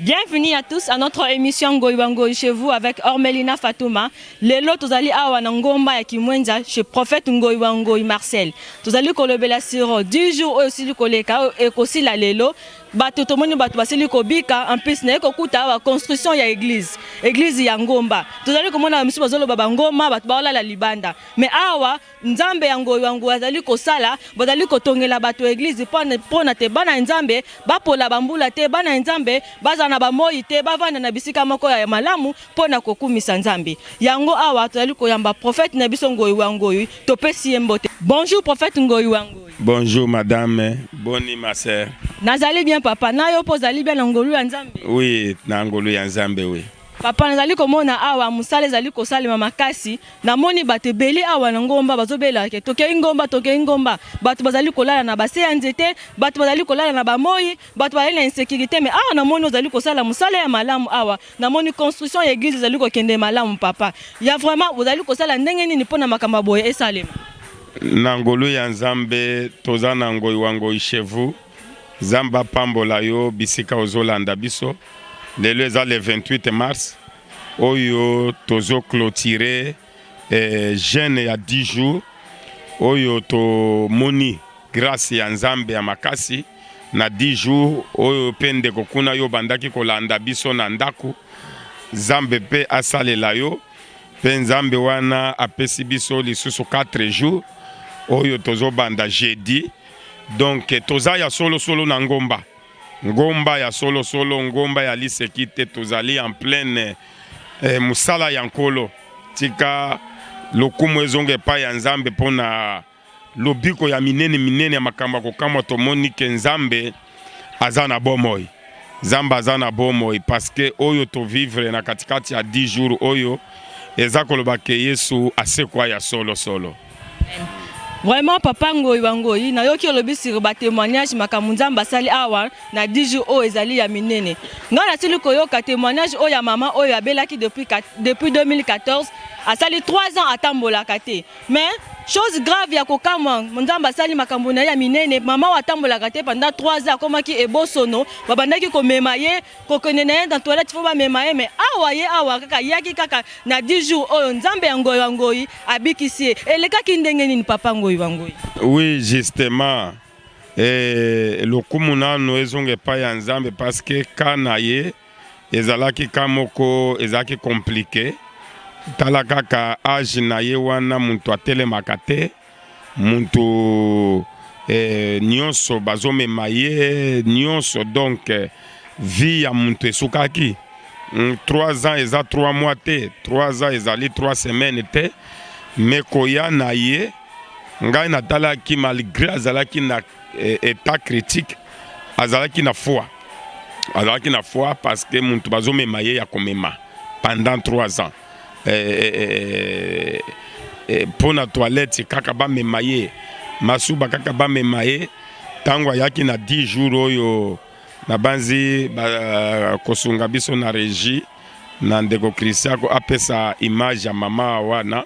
Bienvenue à tous à notre émission Ngoy Bangoy chez vous avec Ormelina Fatouma. Lelo tozali awa na ngomba ya Kimwenza chez prophète Ngoy Bangoy Marcel. Tozali kolobela siro du jour oyo sili koleka ekosila lelo. Bato tomoni bato basili kobika en plus na ekokuta awa construction ya église. Église ya ngomba. Tozali komona ba misusu bazoloba ba ngoma bato baolala libanda. Mais awa Nzambe ya ngoyo ya ngoyo azali kosala bazali kotongela bato eglise mpo na te bana ya Nzambe bapola bambula te bana ya Nzambe bazala na bamoi te bavanda na bisika moko ya malamu mpo na kokumisa Nzambe yango awa tozali koyamba prophète na biso ngoyi wa ngoyi topesi ye mbote bonjour prophète ngoyi wa ngoyi Bonjour madame, boni ma sœur. Nazali bien papa, nayo po zali bien na ngolu ya Nzambe. Oui, na ngolu ya Nzambe oui. Papa, nazali komona awa mosala ezali kosalema makasi. Namoni bato ebele awa na ngomba bazobela ke tokei ngomba, tokei ngomba. Bato bazali kolala na base ya nzete, bato bazali kolala na bamoi, bato bazali na insecurite. Me awa namoni ozali kosala mosala ya malamu awa. Namoni construction ya eglise ezali kokende malamu papa. Ya vraiment ozali kosala ndenge nini mpo na makambo boye esalema? Na ngolu ya Nzambe toza na ngoi wa ngoi chez vous. Zambe apambola yo bisika ozo landa biso lelo eza le 28 mars oyo tozo clotire eh, jeune ya 10 jours oyo tomoni grace ya Nzambe ya makasi na 10 jours oyo pe ndeko kuna yo bandaki kolanda biso na ndako Zambe pe asalela yo pe Nzambe wana apesi biso lisusu 4 jours oyo tozobanda jeudi Donc toza ya solo solo na ngomba, ngomba ya solo solo, ngomba ya liseki te. Tozali en pleine eh, musala ya nkolo. Tika lokumu ezonga epai ya Nzambe mpo na lobiko ya minene minene ya makambo ya kokamwa tomoni ke Nzambe aza na bomoi. Nzambe aza na bomoi paske oyo tovivre na katikati ya 10 jours oyo eza koloba ke Yesu asekwa ya solo solo. Vraiment papa Ngoyi wa Ngoyi, nayoki olobi sur ba témoignages makambo Nzambe asali awa na 10 jours oyo ezali ya minene. Ngai nasili koyoka témoignage oyo ya mama oyo abelaki depuis, depuis 2014 asali 3 ans atambolaka te Mais chose grave ya kokamwa nzambe asali makambo na ye ya minene mama oyo atambolaka te pendant 3 ans akomaki ebosono babandaki komema ye kokende na ye na toilette fo bamema ye mais awa ye awa kaka yaki kaka na 10 jours oyo nzambe ya ngoyi wa ngoyi abikisi ye elekaki ndenge nini papa ngoyi wa ngoyi oui justement eh, lokumu nano ezonga epai ya nzambe parce que ka na ye Ezalaki cas moko ezalaki complique tala kaka age na ye wana mutu atelemaka te mutu eh, nionso bazomema ye nionso donc vie ya mutu esukaki 3 ans eza 3 mois te 3 ans ezali 3 semaines te me koya na ye ngai natalaki malgre azalaki na etat critique azalaki na foi azalaki na foi parce que muntu bazomema ye ya komema pendant 3 ans mpo na toilette kaka bamema ye masuba kaka bamema ye ntango ayaki na 10 jours oyo nabanzi kosunga biso na regie na ndeko christian ko apesa image ya mama wana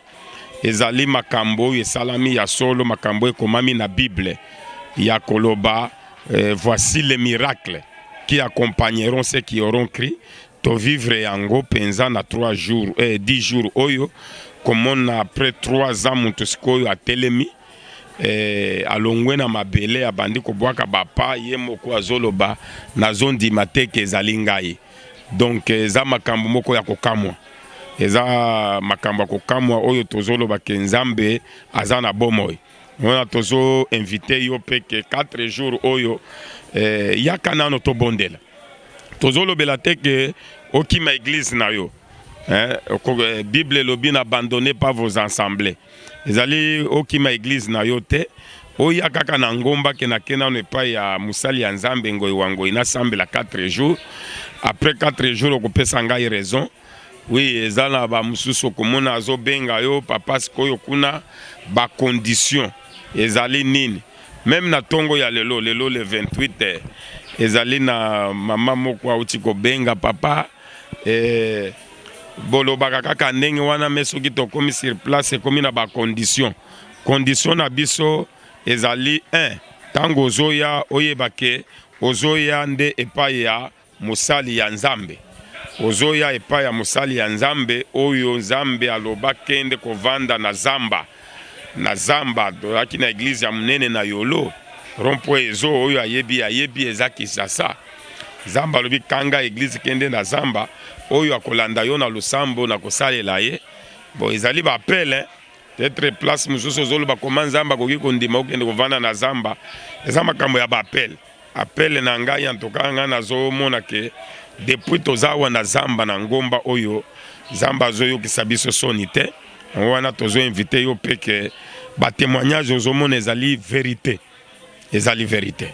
Ezali makambo oyo esalami ya solo, makambo oyo ekomami na Bible ya koloba eh, voici les miracles qui accompagneront ceux qui auront cru tovivre yango mpenza na 3 jours eh, 10 jours oyo komona après 3 ans moto sikoyo atelemi eh, alongwe na mabele abandi kobwaka bapa ye moko azoloba nazondima te ke ezali ngai donc eza makambo moko ya kokamwa eza makambo ya kokamwa oyo tozoloba ke nzambe aza na bomoi wana tozo invite yo mpe ke 4 jours oyo eh, yaka nano tobondela tozolobela te ke okima eglise na yo eh, eh bible elobi na abandonne pas vos ensemble ezali okima eglise na yo te oya kaka na ngomba ke nake nano epai ya mosali ya nzambe ngoi wa ngoi nasambela 4 jours après 4 jours okopesa ngai raison oui eza na bamosusu okomona azobenga yo papa sikoyo kuna bacondition ezali nini meme na ntongo ya lelo lelo le 28 eh, ezali na mama moko auti kobenga papa eh, Bolobaka kaka ndenge wana mais soki tokomi sur place ekomi na ba conditions. Condition na biso ezali un tango ozoya oyeba ke ozoya nde epai ya mosali ya Nzambe. Ozoya epai ya mosali ya Nzambe oyo Nzambe aloba kende kovanda na zamba. na zamba tozalaki na eglize ya monene na yolo rompo ezo oyo ayebi ayebi eza kisasa zamba alobi kanga eglize kende na zamba oyo akolanda yo na losambo na kosalela ye bon ezali bapele tetre place mosusu ozoloba koma nzambe akoki kondima okende kovanda na zamba eza makambo ya bapele Appel na ngai en tout cas ngai nazomona ke depuis toza awa na zamba na ngomba oyo zamba azoyokisa biso soni te yango wana tozo invite yo mpe ke batémoignage ozomona ezali verité ezali verité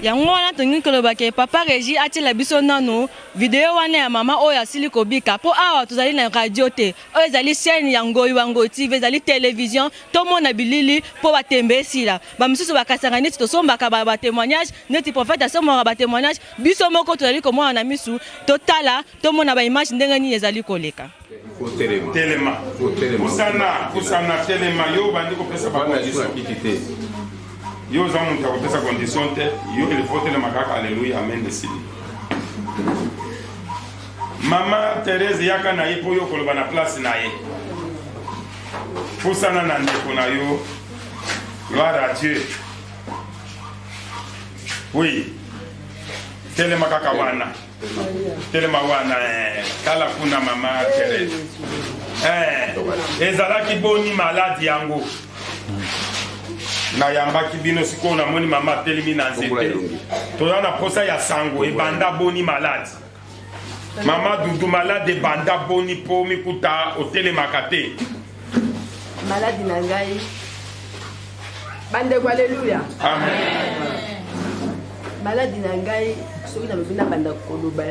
yango wana tolingi koloba ke papa regi atiela biso nano video wana ya mama oyo asili kobika mpo awa tozali na radio te oyo ezali chaîne ya ngoyi wa ngoyi tv ezali television tomona bilili mpo batembe esila ba misusu ba kasanga neti tosombaka ba, ba témoignage neti prophète asombaka ba témoignage biso moko tozali komona na misu totala tomona ba image ndenge nini ezali koleka telema kusana kusana telema yo obandi kopesa bakondisokiti te yo oza moto ya kopesa condition te yo elifo telema kaka aleluya amen esili mama therese yaka na ye mpo yo okoloba na place na ye pusana na ndeko na yo gloire à dieu oui telema kaka wana telema wana eh. tala kuna mama terese eh, ezalaki boni maladi yango nayambaki bino sikoyo namoni mama atelemi na nzete toza na mposa ya sango ebanda boni maladi mama dudu malade ebanda boni mpo mikuta otelemaka te maladi na ngai bandeko aleluya maladi na ngai soki nalobi na banda koloba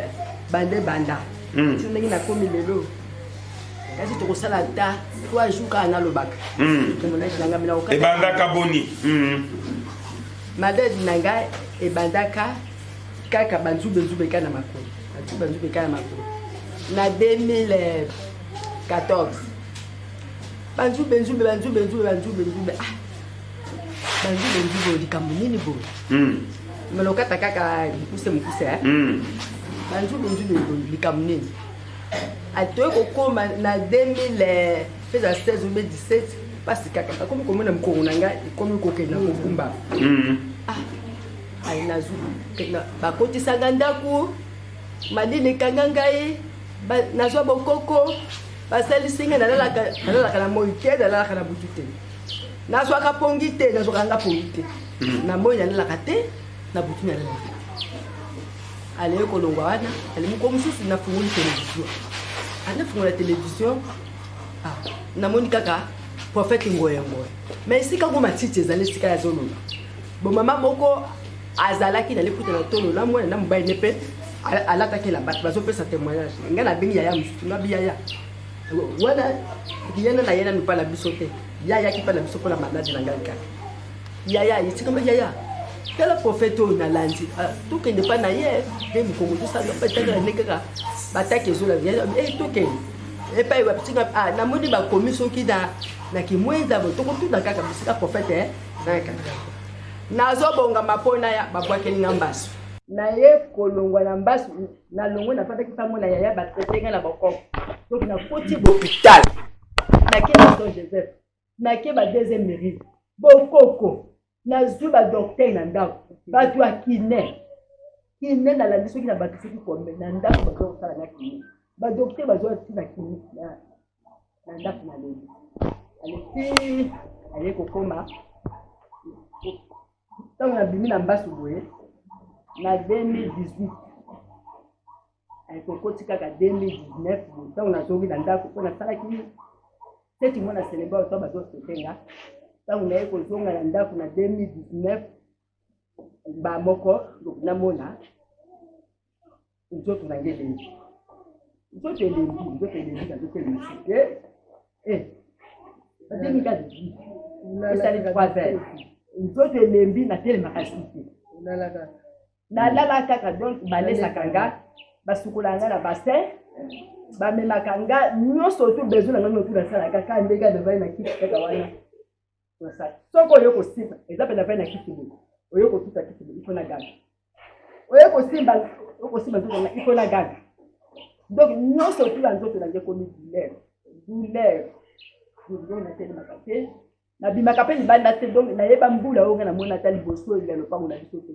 banda ebanda hmm. ti ndenge nakomi lelo kasi tokosala ata trois jour kaka nalobaka hmm. ebandaka boni hmm. maladi na ngai ebandaka kaka banzube nzube kaka na makolo banzube nzube kaka na makolo na 2014 banzube nzube banzube nzube banzube nzube ah banzube nzube likambo nini boye hmm. melokata kaka mokuse mokuse eh? hmm. banzube nzube likambo nini atoye kokoma na 2000 peza 16 obe 17 mpasi kaka akomi komona mokongo na ngai ekomi kokenda kokumba hmm. Ayi nazwi bakotisanga ndako malili ekanga ngai nazwa bokoko basalisi ngai nalalaka na moi te nalalaka na butu te nazwaka pongi te nazwaka nga pongi te hmm. na moi nalalaka te na butu nalalaka alei kolongwa wana ale moko mosusu nafungoli televizio anafungola televizio ah, namoni kaka profete ngoya ngoya ma esika ngo matiti ezali esika ya zolona Bon mama moko azalaki na liputa na tolo na mwana na mobali ne mpe alataki na bato bazopesa témoignage ngai nabengi yaya mosusu nabi yaya wana yena na yena mipa na biso te yaya kipa na biso mpo na maladi na ngai kaka yaya etikama yaya tala profete oyo nalandi ah, tokende mpa na ye mpe mokongo tosala mpe tala nde kaka bataki ezolaa eh, tokende epai wapitika ah, namoni bakomi soki na kimwenza tokotuna kaka bisika profete eh. nazobonga mapona ya babwakeli nga mbasu naye kolongwa na mbasu nalongwe nafandaki mpango na yaya batraite nga na bokoko donc nakoti bopital nake na son joseph nake ba deuxième mérite bokoko nazwi badoktere na ndako bato ya kine kine nalandi soki na bato soki kombe na ndako baza kosala na kine badoktere bazwa ti na kine na ndako na leli aleki aye kokoma ntango nabimi na mbasu boye na 2018 ayekokoti kaka 2019 ntango nazongi na ndako mpo nasalaki seti mwana seleba oto bazosotenga ntango naye kozonga na ndako na 2019 ba moko namona nzoto na nge elengi nzoto elengi nzoto elengi na nzoto elengi e e natemi kati esali trois heures nzoto elembi natelemaka site nalala kaka donc balesaka nga basukolaka nga na bassin bamemaka nga nyonso tu besoin na nga notu nasalaka kaka ndenge adevai na kiti kaka wana tosala soko oyo kosimba eza mpe na vani ya kisi boye oyo kotuta kisi boye ifo na gaga oyo kosimba okosimba nzoto na ifo na gaga donc nyonso otula nzoto na nge ekomi douleur douleur douleur natelemaka te nabimaka mpe libanda te donc nayeba mbula oyo nga namoni ata liboso ya lopango na biso te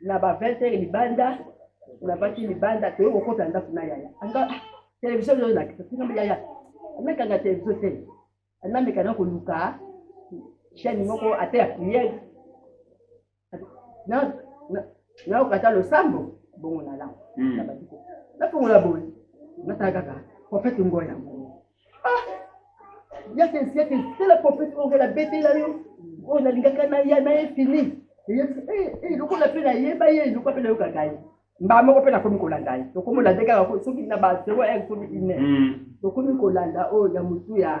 na ba 20 heures libanda nabaki libanda toye kokota ndako na yaya anga ah, televizio oyo nakisa tingambe yaya anakanga televizio te anameka na koluka chaîne moko ata ya priere naokata losambo bongo nalanga hmm. nafongola boye natala kaka profete ngo yango ah! yaka yaka sala prophète oyo la betela yo oyo nalingaka na ya na ye fini lokola mpe nayeba ye lokola mpe nayokaka ye mbaa moko mpe nakomi kolanda ye tokomi olanda kaka soki na ba zero heure soki ine tokomi kolanda oyo ya motu ya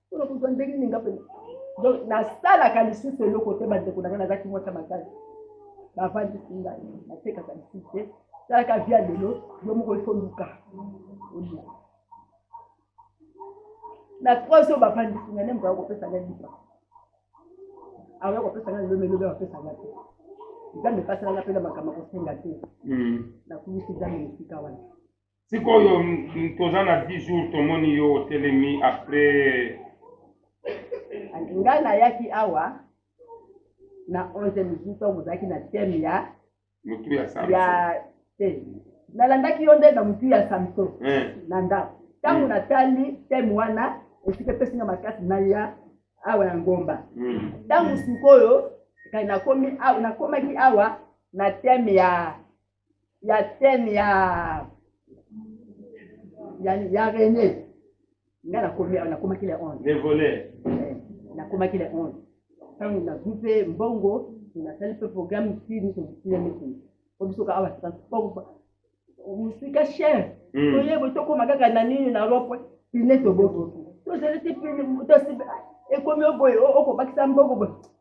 mpona kozwa ndenge nini nga mpe donc nasalaka lisusu eloko te bandeko na ngai nazalaki mwasi ya makasi bavandisi ngai natekaka lisusu te salaka via lelo yo moko ifo luka oluka na trois oyo bavandisi ngai ne moto akoki kopesa ngai lipa akoki kopesa ngai lelo melobe bapesa ngai te nzambe epasalanga mpe na makambo akosenga te hmm. nakumisi nzambe na esika wana sikoyo toza na 10 jours tomoni yo otelemi après ngai nayaki awa na 11 midi ntongo ozalaki na teme ya motu ya ya te nalandaki yo nde na motu ya samso eh. na ndako ntango hmm. natali teme wana esika epesi nga makasi naya awa na ngomba hmm. ntango sikoyo nakomaki awa na teme ya ya scène ya ya, ya René nga nakomi nakomaki le 11 les voleurs eh, nakomaki le 11 ntango nazwi mpe mbongo nasali mpe programme ti nyonso bisila nyonso po biso ka awa transport mosika cher hmm. toyebo tokoma kaka na nini na lopwe pine toboki tozali te pine ekomi oboye okobakisa mbongo boye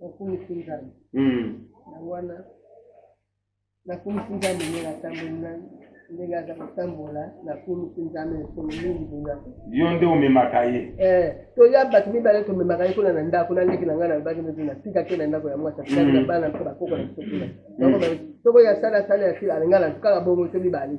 nakumisi nzambe hmm. na wana nakumisi nzambe ndenge atamboli nani ndenge aza kotambola nakumisi nzambe mikolo mingi boya yo nde omemaka ye eh, toya bato mibale tomemaka ye kuna na ndako na leki na ngai nalobaki nde natika te na ndako ya mwasi atali na hmm. bana mpe bakoko na biso kuna hmm. soko ya sala sala ya sila alingala kaka bongo to mibale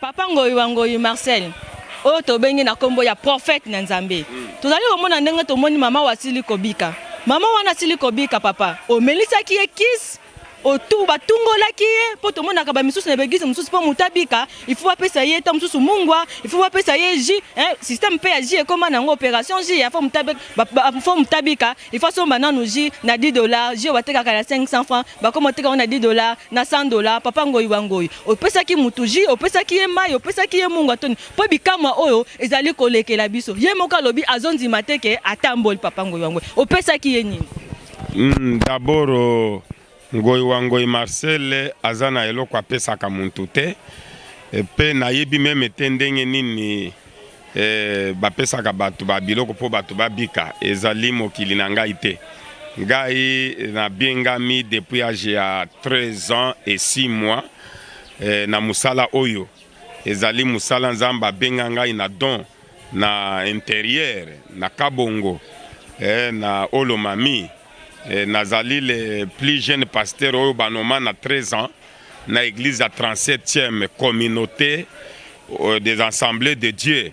papa ngoyi wa ngoyi marcel oyo tobengi na nkombo ya profete na nzambe tozali komona ndenge tomoni mama oyo asili kobika mama wana asili kobika papa omelisaki ye kisi otu batungolaki ye mpo tomonaka bamisusu na baeglise mosusu mpo moto abika ifu bapesa ye ta mosusu mungwa ifu bapesa ye ji systeme mpe ya ji ekóma na yango opération ji ya fo moto abika Il faut asomba nanu jus na 10 dollars, jus oyo batekaka na 500 francs, bakoma koteka yango na 10 dollars, na 100 dollars, papa ngoyi wa ngoyi, opesaki mutu jus, opesaki ye mayi, opesaki ye mungwa to nini? Po bikamwa oyo ezali kolekela biso. Ye moko alobi azondima te que atamboli, papa ngoyi wa ngoyi, opesaki ye nini? Hum d'abord Ngoy wa ngoy Marcel aza na eloko apesaka mutu te pe nayebi meme te ndenge nini eh, bapesaka batu ba biloko po batu babika ezali mokili na ngai te ngai nabiengami depuis age ya 13 ans et 6 mois eh, na musala oyo ezali musala nzambe abenga ngai na don na interieur na kabongo eh, na olomami Eh, nazali le plus jeune pasteur oyo banoma na 13 ans na église ya 37e communauté euh, des assemblées de Dieu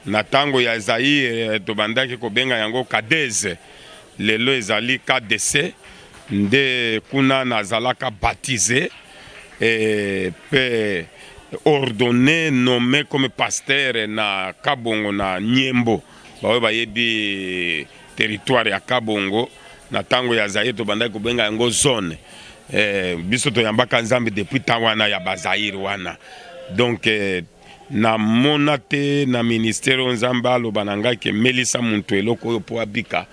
na tango ya Zaire eh, tobandaki kobenga yango Kadeze lelo ezali KDC nde kuna nazalaka baptisé et pe ordonné nommé comme pasteur na Kabongo na Nyembo baoyo bayebi Territoire ya Kabongo na tango ya Zaire tobandaki kobenga yango zone eh, biso toyambaka Nzambe depuis temps wana ya Bazaire wana donc eh, namona te na ministère oyo Nzambe aloba na ngai ke melisa muntu eloko oyo mpo abika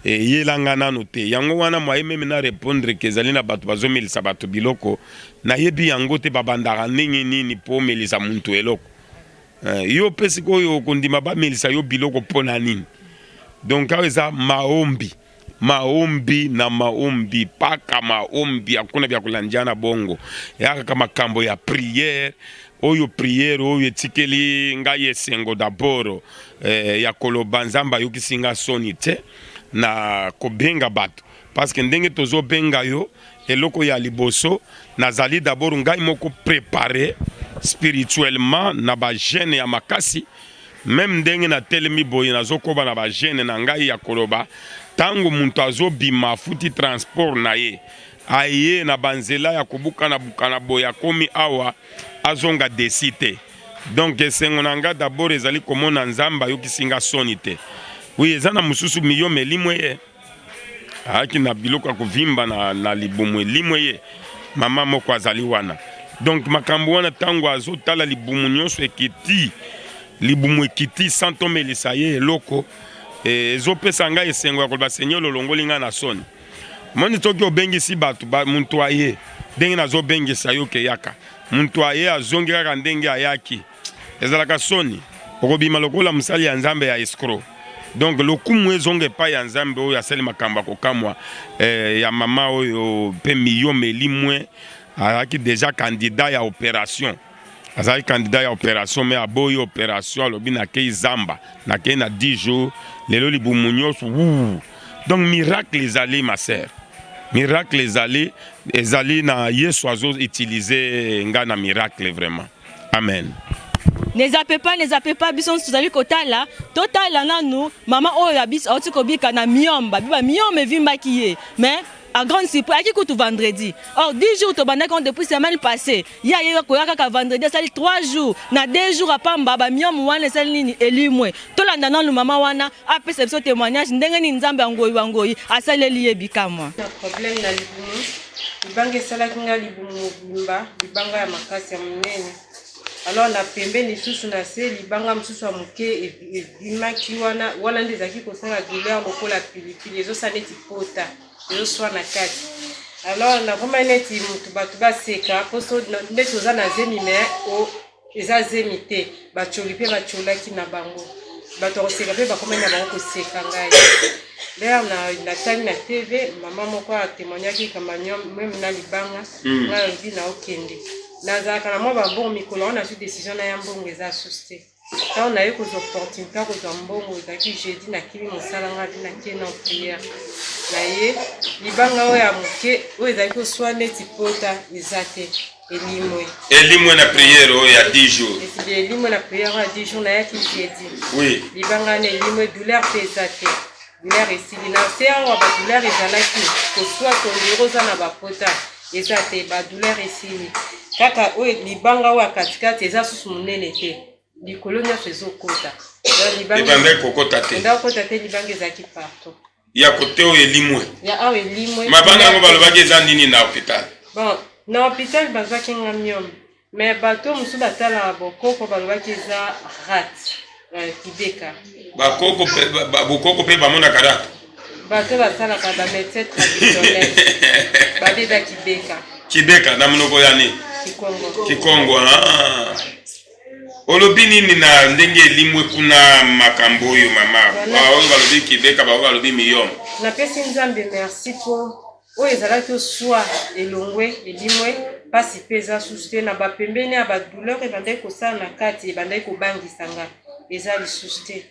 eyelanga nanu te yango wana mwaye meme na repondre ke ezali na bato bazomelisa bato biloko nayebi yango te babandaka ndenge nini mpo omelisa muntu eloko Eh, yo mpe sikoyo okondima bamelisa yo biloko mpo na nini? Donc awa eza maombi maombi na maombi paka maombi, hakuna vya kulanjana bongo yakaka makambo ya priere oyo priere oyo etikeli ngai esengo daboro eh, ya koloba nzambe ayokisi ngai soni te na kobenga bato Parce que ndenge tozo benga yo eloko ya liboso nazali d'abord ngai moko prepare spirituellement na ba gene ya makasi meme ndenge na telemi boye nazokoba na ba gene na ngai ya koloba ntango moto azobima afuti transport na ye aye na banzela ya kobukana bukana boye akomi awa azonga desi te donc esengo na ngai d'abord ezali komona nzambe ayokisi ngai soni te wi eza na mosusu miyo melimwe ye ayaki na biloko ya kovimba na, na libumu elimwe ye mama moko azali wana donc makambo wana ntango azotala libumu nyonso ekiti libumu ekiti santomelisa ye eloko eh, ezopesa ngai esengo ya koloba senye ololongoli ngai na soni moni soki obengisi bato ba, moto aye ndenge nazobengisa yo keyaka moto aye azongi kaka ndenge ayaki Ezalaka soni okobima lokola mosali ya Nzambe ya escro. Donc lokumu ezonga epai ya Nzambe oyo asali makambo ya kokamwa eh, ya mama oyo mpe miyome elimwe azalaki deja candidat ya operation azali candidat ya operation me aboyi operation alobi nakei zamba nakei na 10 jours lelo libumu nyonso donc miracle ezali ma sœur miracle ezali ezali na yesu azo utilize ngai na miracle vraiment Amen. nezape pa nezape pa biso nso tozali kotala totala nanu mama oyo ya biso auti kobika na miome babiba miome evimbaki ye mais à grande surprise ayaki kutu vendredi or 10 jours tobandaki on depuis semaine passée ye ayei koya kaka vendredi asali 3 jours na 2 jours apamba bamiome wana esali nini elimwe tolanda nanu mama wana apesa biso témoignage ndenge nini nzambe ya ngoi wa ngoi asaleli ye bikamwa Libanga esalaki ngai libumu mobimba, libanga ya makasi ya monene. Alors na pembeni lisusu na se libanga mosusu ya moke ebimaki wana, wana nde ezalaki kosala douleur lokola pilipili, ezosala neti pota, ezoswa na kati. Alors nakomaki neti motu bato baseka mposo neti oza na zemi me eza zemi te bacoli mpe bacolaki na bango bato ya koseka mpe bakomaki na bango koseka ngai d'ailleurs na natali na tv mama moko atemoignaki kamanio meme na libanga hmm. ngai alobi na okende nazalaka na mwa babongo mikolo yango nazwi décision na ya mbongo eza susu te ntango naye kozwa opportunité ya kozwa mbongo ezalaki jeudi nakimi mosala ngai abi natie na prière na ye libanga oyo ya moke oyo ezalaki oswa neti pota eza te Elimwe. Elimwe na prière oyo ya 10 jours. Esili elimwe na prière oyo ya 10 jours nayaki jeudi. Oui. Libanga na elimwe douleur mpe eza te. Douleur esili na se awa ba douleur ezalaki koswa tondiro oza na bapota eza te ba douleur esili kaka oyo libanga oyo ya katikati eza susu monene te likolo nyonso ezokota libanga ekokota te libanga ezalaki partout ya kote oyo elimwe ya awa elimwe mabanga yango balobaki eza nini na hopital bon na hopital bazwaki nga miome me bato mosusu batalaka bokoko balobaki eza rat euh, kideka bakoko bokoko mpe bamonaka rat bato basalaka bamedecin traditionnel babeba kibeka kibeka na monoko ya nini kikongo kikongo ah. Olobi nini na ndenge elimwe kuna makambo oyo mama baoyo balobi kibeka baoyo balobi miyom napesi nzambe merci po oyo ezalaki oswa elongwe elimwe mpasi mpe eza susu te na bapembeni ya badouleur ebandaki kosala na kati ebandaki kobangisa nga eza lisusu te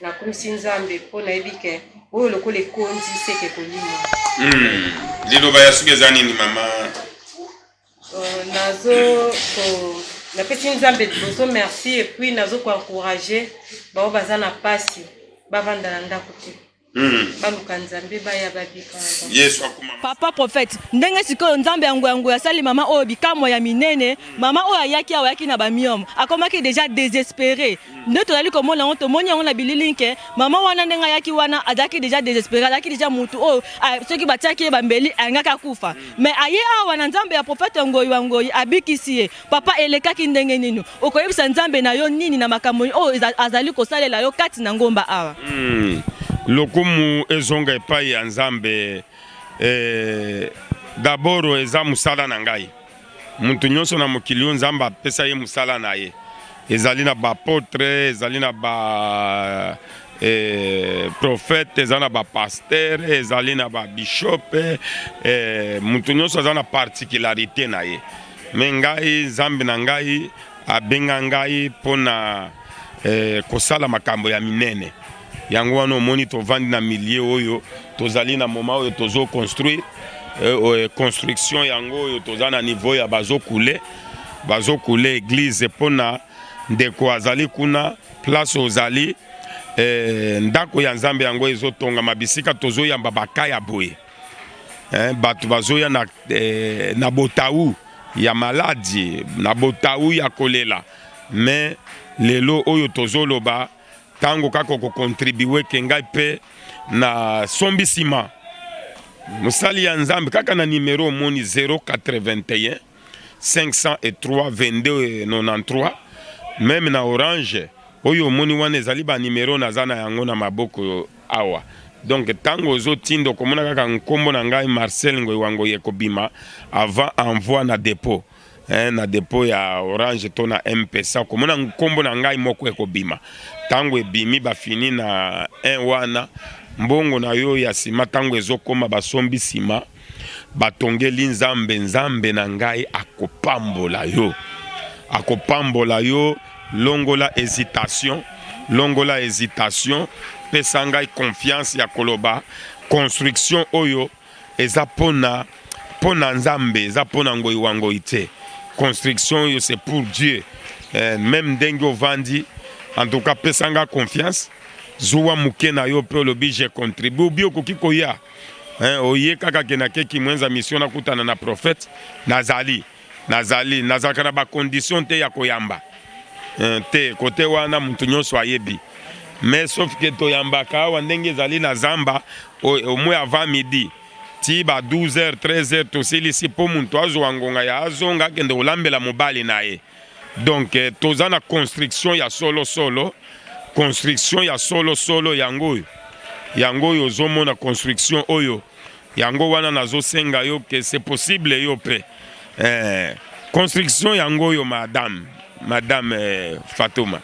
nakumisi nzambe mpo nayebi ke oyo lokola ekonzi seke kolimwa hmm. liloba ya suka eza nini mama Euh, nazo ko napesi nzambe liboso merci et puis nazo ko encourager baoyo baza na pasi bavanda na ndako te hmm. baluka nzambe baya babika yesu akuma papa prophète ndenge sikoyo nzambe yango yango asali mama oyo bikamwa ya minene mama oyo ayaki awa ayaki na bamiome akomaki déjà désespéré nde tozali komona yango tomoni yango na bililingi ke mama wana ndenge ayaki wana azalaki deja desespere azalaki deja motu oyo oh, soki batiaki ye bambeli alingaki akufa me aye awa na nzambe ya profete ngoyi wa ngoyi abikisi ye papa elekaki ndenge nini okoyebisa nzambe na yo nini na makambo oyo oh, azali kosalela yo kati na ngomba awa hmm. lokumu ezonga epai ya nzambe eh, daboro eza mosala na ngai Moto nyonso na mokili oyo Nzambe apesa ye mosala na ye, ezali na bapotre, ezali na ba eh, profete, ezali na bapastere, ezali na babishope eh, moto nyonso aza na particularité na ye. Me ngai Nzambe na ngai abenga ngai mpo na eh, kosala makambo ya minene. Yango wana omoni tovandi na milieu oyo tozali na moment oyo tozo construire euh, euh, construction yango oyo toza na niveau ya bazo kule bazo kule eglise mpo na ndeko azali kuna place ozali eh, ndako ya nzambe yango ezotongama bisika tozoyamba baka ya boye eh, bato bazoya na, eh, na botau ya maladi na botau ya kolela me lelo oyo tozoloba Tango kaka oko contribuer ke ngai pe na sombi sima mosali ya Nzambe kaka na numero omoni 081 503 2293 meme na orange oyo omoni wana ezali ba numero naza na yango na maboko awa donc ntango ozotinda okomona kaka nkombo na ngai marcel ngoiwangoye ekobima avant envoi na depot eh, na depot ya orange to na mpesa okomona nkombo na ngai moko ekobima ntango ebimi bafini na 1 wana mbongo na yo ya nsima ntango ezokoma basombi nsima batongeli nzambe nzambe na ngai akopambola yo akopambola yo longola hesitation longola hesitation pesa ngai confiance ya koloba construction oyo Eza pona pona nzambe eza pona ngoi wa ngoi te construction yo c'est pour Dieu eh, même ndenge ovandi en tout cas pesa nga confiance zuwa moke na yo mpe olobi je contribue obi okoki koya eh, oye kaka ke nake kimwenza mission nakutana na prophète nazali Nazali nazalaka na ba conditions te ya koyamba eh, te kote wana mutu nyonso ayebi mais sauf que toyambaka awa ndenge ezali na zamba au moins avant midi ti ba 12 heures 13 heures tosilisi mpo moto azwa ngonga ya azonga akende kolambela mobali na ye donc eh, toza na construction ya solo solo construction ya solo solo yango oyo yango oyo ozomona construction oyo Yango wana nazo senga yo que c'est possible yo pe eh, construction yango yo madame madame eh, Fatuma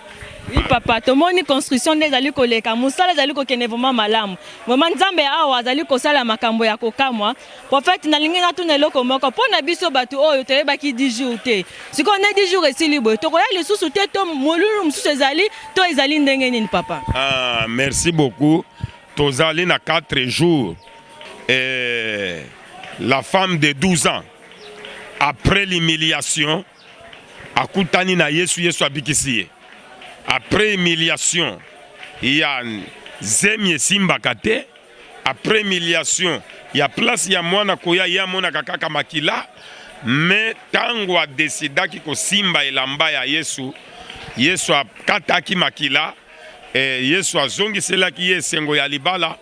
Oui papa, tomoni construction nde ezali koleka, mosala ezali kokende vraiment malamu. Vraiment Nzambe awa azali kosala makambo ya kokamwa. Prophète nalingi natuna eloko moko mpo na biso bato oyo toyebaki 10 jours te. Sikoyo nde 10 jours esili boye, tokoya lisusu te to molulu mosusu ezali to ezali ndenge nini papa? Ah, merci beaucoup. Tozali na 4 jours et la femme de 12 ans après l'humiliation akutani na Yesu, Yesu abikisi ye. Après humiliation ya zemi esimbaka te, après humiliation ya place ya mwana koya ye amonaka kaka makila, me ntango adesidaki kosimba elamba ya Yesu, Yesu akataki makila E, Yesu azongiselaki ye esengo ya libala.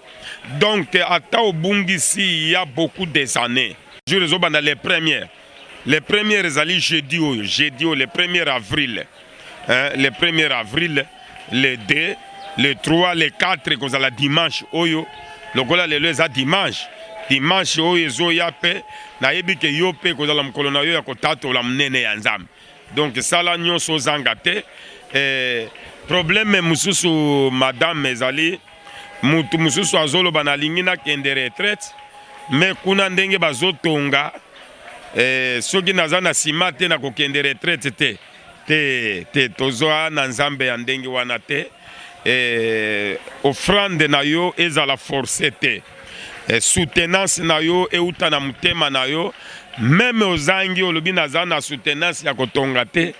Donc ata obungisi ya beaucoup des années. Jour ezobanda le premier. Le premier ezali jeudi oyo, jeudi oyo le premier avril. Hein, le premier avril, le 2, le 3, le 4 ekozala dimanche oyo. Lokola lelo eza dimanche, dimanche oyo ezoya pe nayebi ke yo pe ekozala mokolo na yo ya kotatola monene ya Nzambe. Donc sala nyonso ozanga te. Eh, problème mosusu madame ezali mutu mosusu azoloba nalingi nakende retraite me kuna ndenge bazotonga eh, soki naza na sima te nakokende retraite te te te tozwa na nzambe ya ndenge wana te eh, offrande na yo ezala force te eh, soutenance na yo euta na motema na yo meme ozangi olobi naza na soutenance ya kotonga te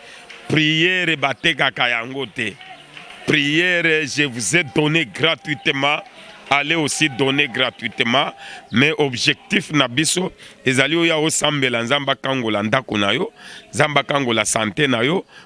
priere batekaka yango te priere je vous ai donné gratuitement aller aussi donner gratuitement mais objectif na biso ezali oya osambela nzambe akangola ndako na yo nzambe akangola sante na yo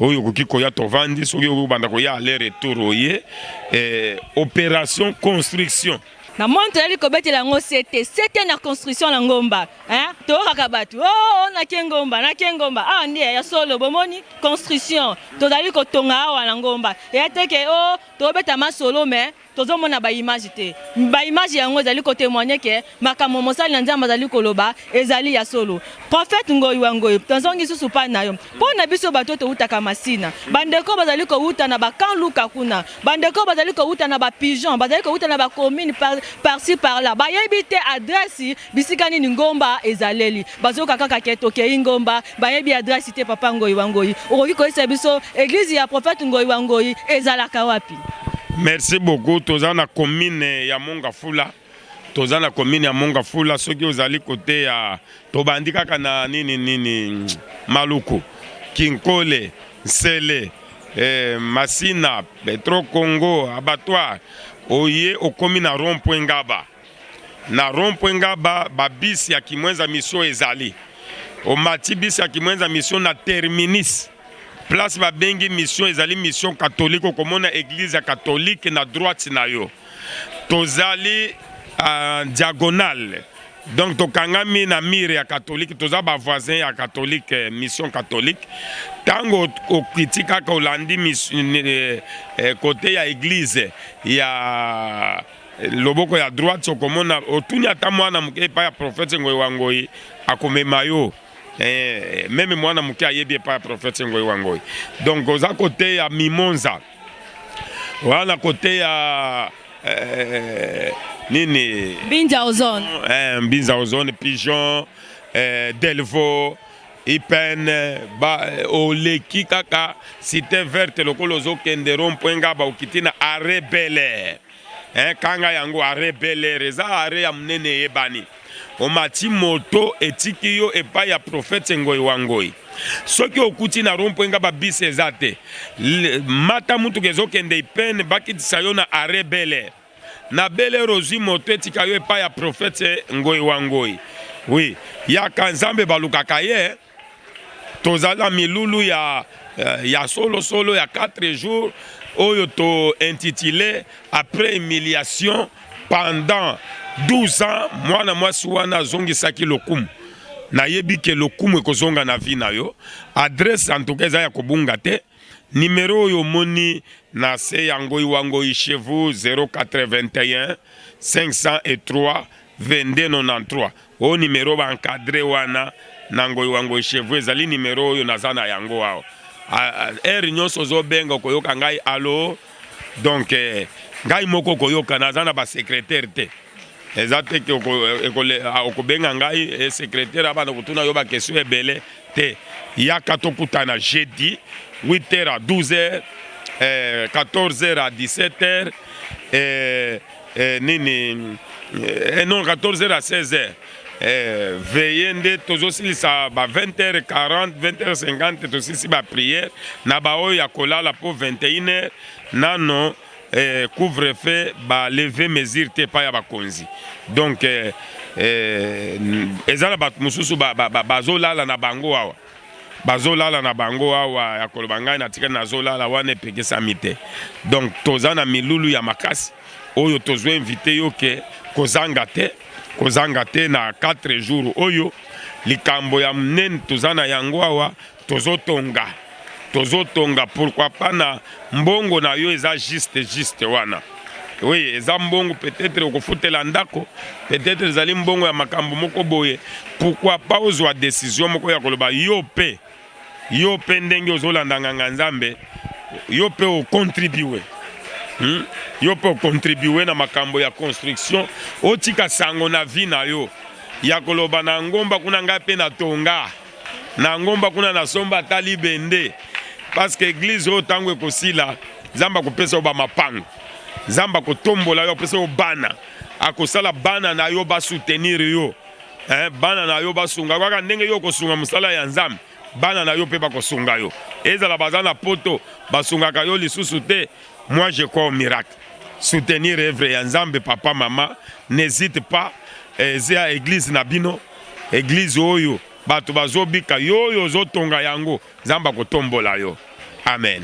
oyo okoki koya tovandi soki obanda koya aller retour oye eh, opération construction na moni tozali kobetela yango sete sete na construction na ngomba hein? toyokaka bato o oh, oh, nake ngomba nake ngomba awa ah, nde ya solo bomoni construction tozali kotonga awa na ngomba eya teke o oh, tobeta masolo me Tozo mona ba images te. Ba images yango ezali ko temoigner que makambo mosali na Nzambe azali koloba ezali ya solo. Prophète Ngoyi wa Ngoyi, tozongi lisusu epai na yo. Mpo na biso bato oyo towutaka Masina, ba ndeko oyo bazali kowuta na ba camps Luka kuna, ba ndeko oyo bazali kowuta na ba pigeons, bazali kowuta na ba communes par, par ci par là, bayebi te adresse bisika nini ngomba ezaleli. Bazoyoka kaka que tokeyi ngomba, bayebi adresse te. Papa Ngoyi wa Ngoyi, okoki koyebisa biso eglise ya Prophète Ngoyi wa Ngoyi ezalaka wapi? Merci beaucoup toza na commune ya Mongafula toza na commune ya Mongafula soki ozali kote ya tobandi kaka na nini nini Maluku Kinkole Nsele eh, Masina Petro Congo abattoir oye okomi na rond point Ngaba Na rond point Ngaba ba bus ya Kimwenza mission ezali. Omati bus ya Kimwenza mission na terminus. Place ba bengi mission ezali mission catholique okomona église ya catholique na droite na yo. Tozali en diagonale. Donc tokangami na mire ya catholique toza ba voisin ya catholique eh, mission catholique. Tango okiti kaka olandi eh, eh, kote ya église ya loboko ya droite okomona otuni ata mwana moke epai ya prophète ngoyi wa ngoyi akomema yo eh, meme mwana moke ayebi epai ya prophète ngoyi wa ngoyi donc oza koteya mimonza wana koteya eh, nini mbinza ozone eh, mbinza ozone pigeon eh, delvo Ipn ba oleki kaka cite verte lokola ozokende rond point nga ba okiti na arret Bel Air eh, kanga yango arret Bel Air eza arret ya munene eyebani omati moto etiki yo epai ya profete ngoi wa ngoi soki okuti na rond point nga ba bisi eza te mata mutuka ezokende Ipn bakitisa yo na arret Bel Air Na bele rozi moto etika yo epai ya prophète ngoyi wa ngoyi. Oui, yaka nzambe balukaka ye. Tozali na milulu ya euh, ya solo solo ya 4 jours oyo to intitulé après humiliation pendant 12 ans mwana mwasi wana azongisaki lokumu nayebi ke lokumu ekozonga na vie na yo adresse en tout cas eza ya kobunga te Numero oyo omoni na se ya ngoi wa ngoi chez vous 081 oyo numero ba encadre wana na ngoi wa ngoi chez vous ezali numero oyo naza na yango awa. Heure nyonso ozobenga okoyoka ngai alo. donc eh, ngai moko koyoka naza na basecretaire te eza te ke ah, okobenga ngai eh, secretaire abanda kotuna yo bakestion ebele te yaka tokutana jeudi 8h à 12h eh, 14h à 17h eh, eh, nini eh, non 14 heures à 16 heures eh, veye nde tozosilisa ba 20 heures 40 20 heures 50 tosilisi ba prière na baoyo ya kolala mpo 21 heures nano eh, couvre feu baleve mesure te epai ya bakonzi donc eh, eh, eza na bato mosusu bazolala ba, ba, ba, na bango awa bazolala na bango awa ya koloba ngai natikali nazolala wana epekesami te donc toza na milulu ya makasi oyo tozwa invite yo ke kozanga te kozanga te na 4 jours oyo likambo ya monene toza na yango awa tozotonga tozotonga pourquoi pas na Mbongo na yo eza juste juste wana oui eza mbongo peut-être okofutela ndako peut-être ezali mbongo ya makambo moko boye pourquoi pas ozwa décision moko ya koloba yo mpe yo mpe ndenge ozolanda nganga nzambe yo mpe ocontribue hmm? yo mpe ocontribue na makambo ya construction otika sango na vie na yo ya koloba na ngomba kuna ngai mpe natonga na ngomba kuna na somba ata libende parce que église oyo ntango ekosila nzambe akopesa yo bamapango nzambe akotombola yo apesa yo bana akosala bana na yo basoutenir yo eh, bana na yo basunga kaka ndenge yo okosunga mosala ya nzambe bana na yo mpe bakosunga yo ezala baza na poto basungaka yo lisusu te moi je crois au miracle soutenir evre ya nzambe papa mama n'hésite pas eza eh, eglise na bino eglise oyo bato bazobika yo oyo ozotonga yango nzambe akotombola yo amen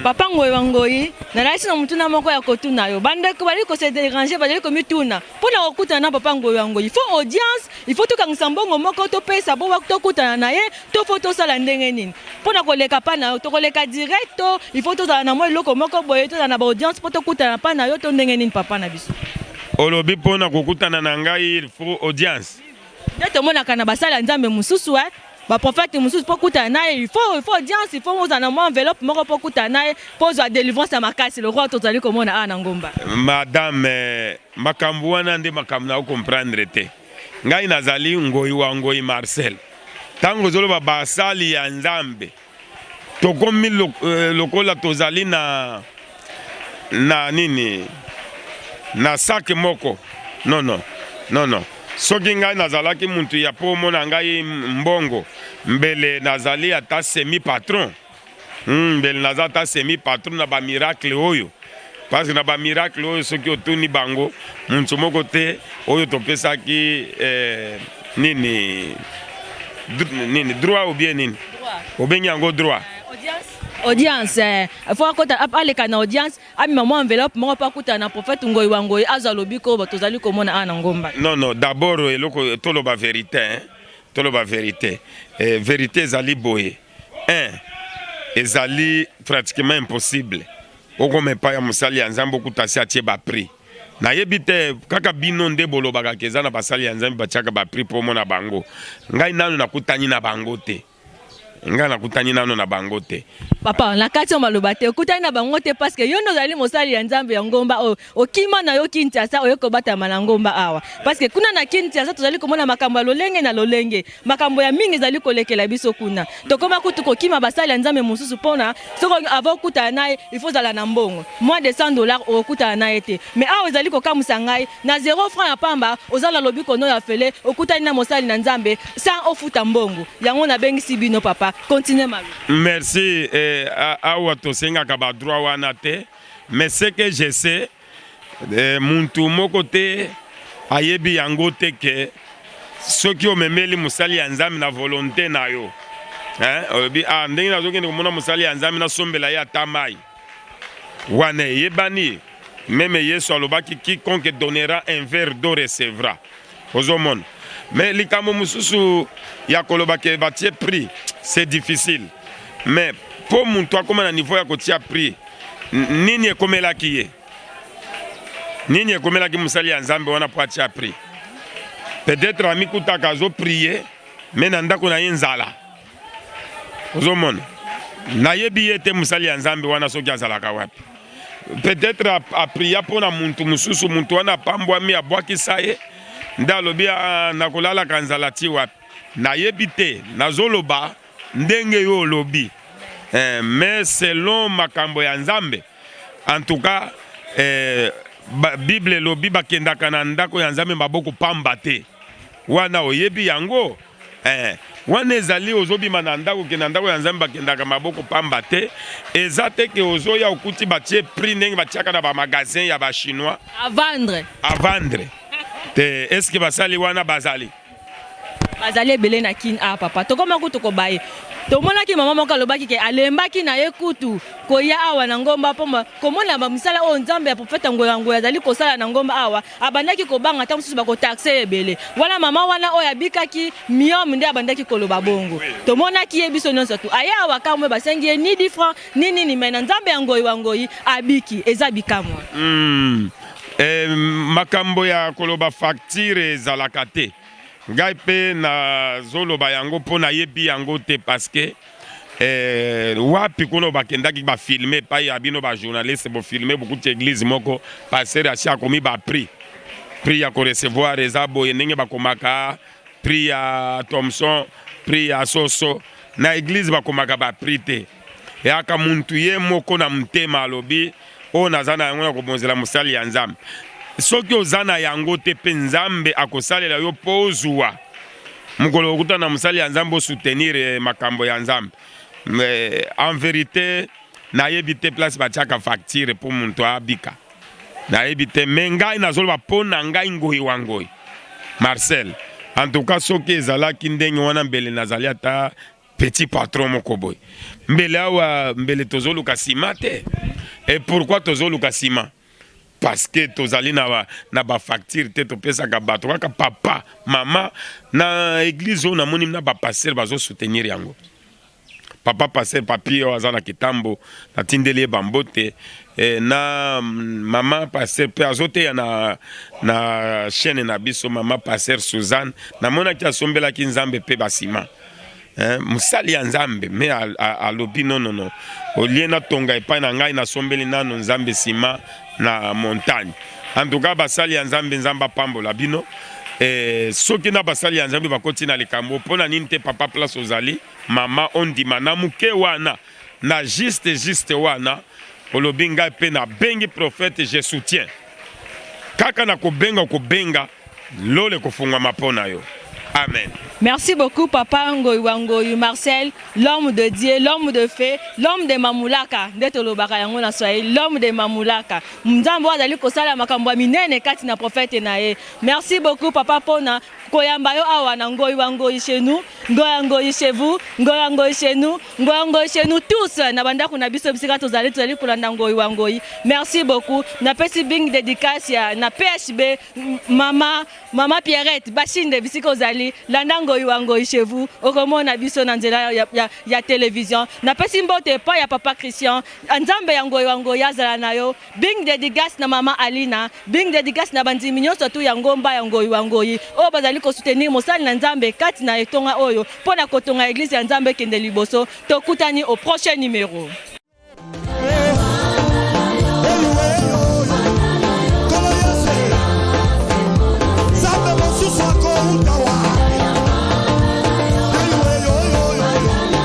papa ngoyi wa ngoyi nalati na motuna moko ya kotuna yo bandeko bazali kose derange bazali komituna mpo na kokutana na papa ngoyi wa ngoyi fo audience il faut tokangisa mbongo moko topesa bo tokutana na ye to faut tosala ndenge nini mpo na koleka pa na yo tokoleka direct to il faut tozala na mwa eloko moko boye tozala na baaudience mpo tokutana pa na yo to ndenge nini papa na biso olobi mpo na kokutana na ngai il faut audience nde tomonaka na basali ya nzambe mosusu eh? baprofete mosusu mpo okutana na ye il faut il faut audience il faut ozala na mwa enveloppe moko mpo okutana na ye mpo ozwa délivrance ya makasi lokola tozali komona awa na ngomba madame eh, makambo wana nde makambo na okomprendre te Ngai nazali Ngoyi wa Ngoyi Marcel. Ntango ozoloba basali ya Nzambe, tokomi eh, lokola tozali na na nini na sake moko nono nono soki ngai nazalaki mutu ya po omona ngai mbongo mbele nazali ata semi patron Hum, mbele naza ata semi patron na ba miracle oyo parce que na ba miracle oyo soki otuni bango muntu moko te oyo topesaki eh, nini nini droit ou bien nini obengi yango droit eh, audience eh, fo akota aleka na audience amema mwa enveloppe moko mpo akutana na prophète ngoi wa ngoi azwa lobiko oyo tozali komona awa na ngomba non non d'abord eloko toloba verité toloba verité eh, verité ezali boye eh, ezali pratiquement impossible okoma epai ya mosali ya nzambe okuta asi atie baprix nayebi te kaka bino nde bolobaka ke eza na basali ya nzambe batiaka baprix mpo omona bango ngai nano nakutani na bango te ngai nakutani nano na bango te papa na kati ya maloba te okutani na bango te parceke yo nde ozali mosali ya nzambe ya ngomba oyo Okima na yo Kinshasa oye kobatama na ngomba awa parce que kuna na Kinshasa tozali komona makambo ya lolenge na lolenge, makambo ya mingi ezali kolekela biso kuna. Tokoma kutu kokima basali ya Nzambe mosusu pona soko avant okutana na ye il faut zala na mbongo. Moins de 100 dollars okokutana na ye te. Mais awa ezali kokamuisa ngai na zero franc ya pamba oza na lobiko n'o ya ofele okutani na mosali na Nzambe sans ofuta mbongo. Yango nabengisi bino papa. Continuer maloba. Merci eh, awa tosengaka ba droit wana te. Mais ce que je sais eh, muntu moko te ayebi yango te ke soki omemeli mosali ya nzambe na volonte na yo eh, olobi ah, ndenge nazokende komona mosali ya nzambe nasombela ye ata mai wana eyebani meme yesu alobaki quiconque donnera un verre d'eau recevra ozomona mais likambo mosusu ya koloba ke batie prix c'est difficile mais mpo moto akoma na niveau ya kotia prix nini ekomelaki ye nini ekomelaki mosali ya nzambe wana mpo atia prix peut-être amikutaka azoprie mais na ndako na ye nzala ozomona nayebi ye te mosali ya nzambe wana soki azalaka wapi peut-être apria mpo na muntu mosusu muntu wana apambwami abwakisa ye nde alobi ah, nakolalaka nzala ti wapi nayebi te nazoloba ndenge yo olobi eh, mais selon makambo ya nzambe en tout cas eh, ba, bible elobi bakendaka na ndako ya nzambe maboko pamba te wana oyebi yango Ee, wana ezali ozobima na ndako okende na ndako ya Nzambe, bakendaka maboko pamba te. Eza te ke ozoya okuti batie prix ndenge batiaka na ba magasin ya ba chinois a vendre, a vendre te. Est ce que basali wana bazali? Bazali ebele na Kin. Ah papa, tokoma kutu kobaye tomonaki mama moko alobaki ke alembaki na ye kutu koya awa na ngomba mpo komona ba misala oyo Nzambe ya profeta Ngoya Ngoya azali kosala na ngomba awa, abandaki kobanga ntango mosusu bakotaxe ye ebele wana mama wana oyo abikaki miome nde abandaki koloba bongo tomonaki ye biso nyonso tu aye awa kamwe basengi ye ni difran ni nini mai na nzambe ya ngoi wa ngoi abiki eza bikamwa mm. eh, makambo ya koloba faktire ezalaka te ngai mpe nazoloba yango mpo nayebi yango te paske Eh, wapi kuna bakendaki bafilme epai ya bino bajournaliste bofilme bokuti eglise moko paster asi akomi baprix prix ya korecevoir eza boye ndenge bakomaka prix ya thomson prix ya soso na eglise bakomaka baprix te yaka muntu ye moko na motema alobi Oyo naza na yango ya kobonzela mosali ya Nzambe. Soki oza na yango te mpe Nzambe akosalela yo mpo ozua mokolo okutana na mosali ya Nzambe osoutenir eh, makambo ya Nzambe. Eh, en verite nayebi te place batiaka facture mpo moto abika nayebi te me ngai nazoloba mpo na ngai ngoi wa ngoi marcel en tout cas soki ezalaki ndenge wana mbele nazali ata petit patron moko boye mbele awa mbele tozoluka sima te et pourquoi tozoluka sima parce que tozali na ba, na ba facture te topesaka bato kaka papa mama na église oyo namoni na ba pasteur bazo soutenir yango papa pasteur papi oyo aza na kitambo natindeli ye bambote eh, na mm, mama pasteur mpe azoteya na, na chaîne na biso mama pasteur suzanne namonaki asombelaki nzambe mpe basima eh, mosali ya nzambe me alobi nonono olie natonga epai na ngai nasombeli nano nzambe nsima na montagne antuka basali ya nzambe nzambe apambola bino eh, soki na basali ya nzambe bakoti na likambo mpo na nini te papa place ozali mama ondima na moke wana na juste juste wana olobi ngai mpe nabengi prophète je soutien kaka na kobenga okobenga Lola ekofungwama mpo na yo. Amen. Merci beaucoup papa Ngoyi wa Ngoyi Marcel, l'homme de Dieu, l'homme de fait, l'homme de Mamulaka. Nde tolobaka yango na Swahili, l'homme de Mamulaka. Nzambe azali kosala makambo ya minene kati na prophète na ye. Merci beaucoup papa pona koyamba yo awa na Ngoyi wa Ngoyi chez nous, Ngoyi wa Ngoyi chez vous, Ngoyi wa Ngoyi chez nous. Ngoy ngoy chez nous tous na bandako na biso bisika tozali tozali kolanda ngoy wa ngoy merci beaucoup na pesi bing dedicace ya na PHB mama mama Pierrette bashinde bisika ozali landa ngoy wa ngoy chez vous okomona biso na nzela ya, ya, ya television na pesi mbote pa ya papa Christian nzambe ya ngoy wa ngoy azala na yo Bing dedicace na maman Alina, bing dedicace na bandimi nionso tout ya ngomba ya Ngoyi wa Ngoyi oyo bazali ko soutenir mosali na Nzambe kati na etonga oyo mpo na kotonga eglise ya Nzambe ekende liboso. Tokutani au prochain numero.